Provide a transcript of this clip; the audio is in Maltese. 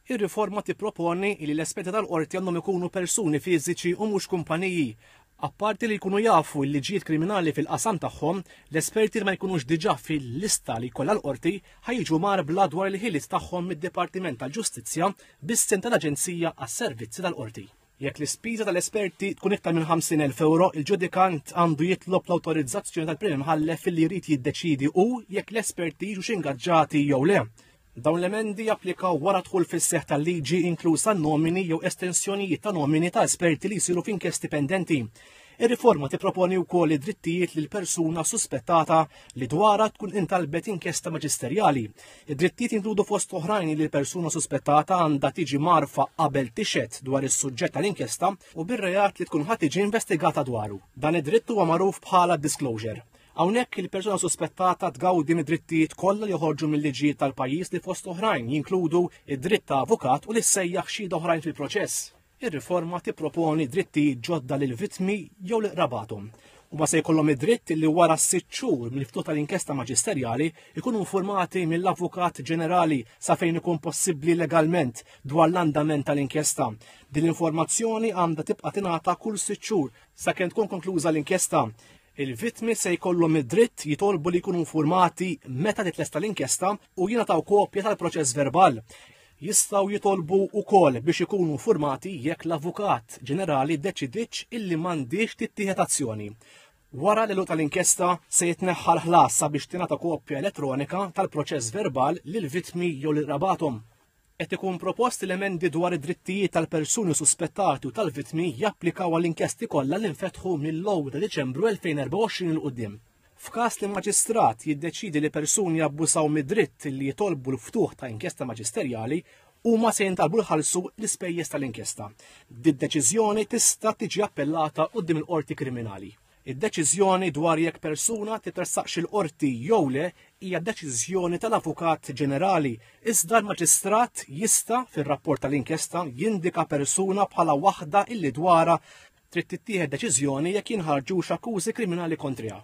Ir-riforma tipproponi li l-esperti tal-Qorti għandhom ikunu persuni fiżiċi u mhux kumpaniji. Apparti li jkunu jafu l-liġijiet kriminali fil-qasam tagħhom, l-esperti li ma jkunux diġà fil-lista li jkollha l-Qorti ħa jiġu mgħarbla dwar il-ħiliet tagħhom mid-Dipartiment tal-Ġustizzja bis-sehem tal-Aġenzija għas-Servizzi tal-Qorti. Jekk l-ispiża tal-esperti tkun iktar minn 50,000 ewro, il-ġudikant għandu jitlob l-awtorizzazzjoni tal-Prim Imħallef li jrid jiddeċiedi hu jekk l-esperti jiġux ingaġġati jew le. Dawn l-emendi japplikaw wara d-dħul fis-seħħ tal-liġi inkluż għan-nomini jew estensjonijiet ta' nomini ta' esperti li jsiru f'inkjesti pendenti. Ir-riforma tipproponi wkoll id-drittijiet lil persuna suspettata li dwarha tkun intalbet inkjesta maġisterjali. Id-drittijiet jinkludu fost oħrajn li l-persuna suspettata għandha tiġi marfa qabel tixhed dwar is-suġġett tal-inkjesta u bir-reat li tkun ħadd tiġi investigata dwaru. Dan id-dritt huwa magħruf bħala disclosure. Hawnhekk il-persuna suspettata tgawdi mid-drittijiet kollha li joħorġu mill-liġijiet tal-pajjiż li fost oħrajn jinkludu id-dritt ta' avukat u li ssejjaħ xhieda oħrajn fil-proċess. Ir-riforma tipproponi drittijiet ġodda lill-vittmi jew lil qrabathom u ma se jkollhom id-dritt li wara s-sitt xhur mill-ftuħ tal-inkjesta maġisterjali jkunu informati mill-Avukat Ġenerali sa fejn ikun possibbli legalment dwar l-andament tal-inkjesta. Din l-informazzjoni għandha tibqa' tingħata kull sitt xhur sakemm tkun konkluża l-inkjesta. Il-vittmi se jkollhom id-dritt jitolbu li jkunu infurmati meta titlesta l-inkjesta u jingħataw kopja tal-proċess verbal. Jistgħu jitolbu wkoll biex ikunu infurmati jekk l-Avukat Ġenerali ddeċidietx illi m'għandhiex tittieħed azzjoni. Wara l-għeluq tal-inkjesta se jitneħħa l-ħlas sabiex tingħata kopja elettronika tal-proċess verbal lill-vittmi jew lil qrabathom. Qed ikun propost li emendi dwar id-drittijiet tal-persuni suspettati u tal-vittmi japplikaw għall-inkjesti kollha li nfetħu mill-ewwel ta' Diċembru 2024 'il quddiem. F'każ li maġistrat jiddeċiedi li persuni abbużaw mid-dritt li jitolbu l-ftuħ ta' inkjesta maġisterjali, huma se jintalbu jħallsu l-ispejjeż tal-inkjesta. Did-deċiżjoni tista' tiġi appellata quddiem il-qorti kriminali. Id-deċiżjoni dwar jekk persuna titressaqx il-Qorti jew le hija deċiżjoni tal-Avukat Ġenerali, iżda l-Maġistrat jista', fir-rapport tal-inkjesta, jindika persuna bħala waħda illi dwarha trid tittieħed deċiżjoni jekk jinħarġux akkużi kriminali kontriha.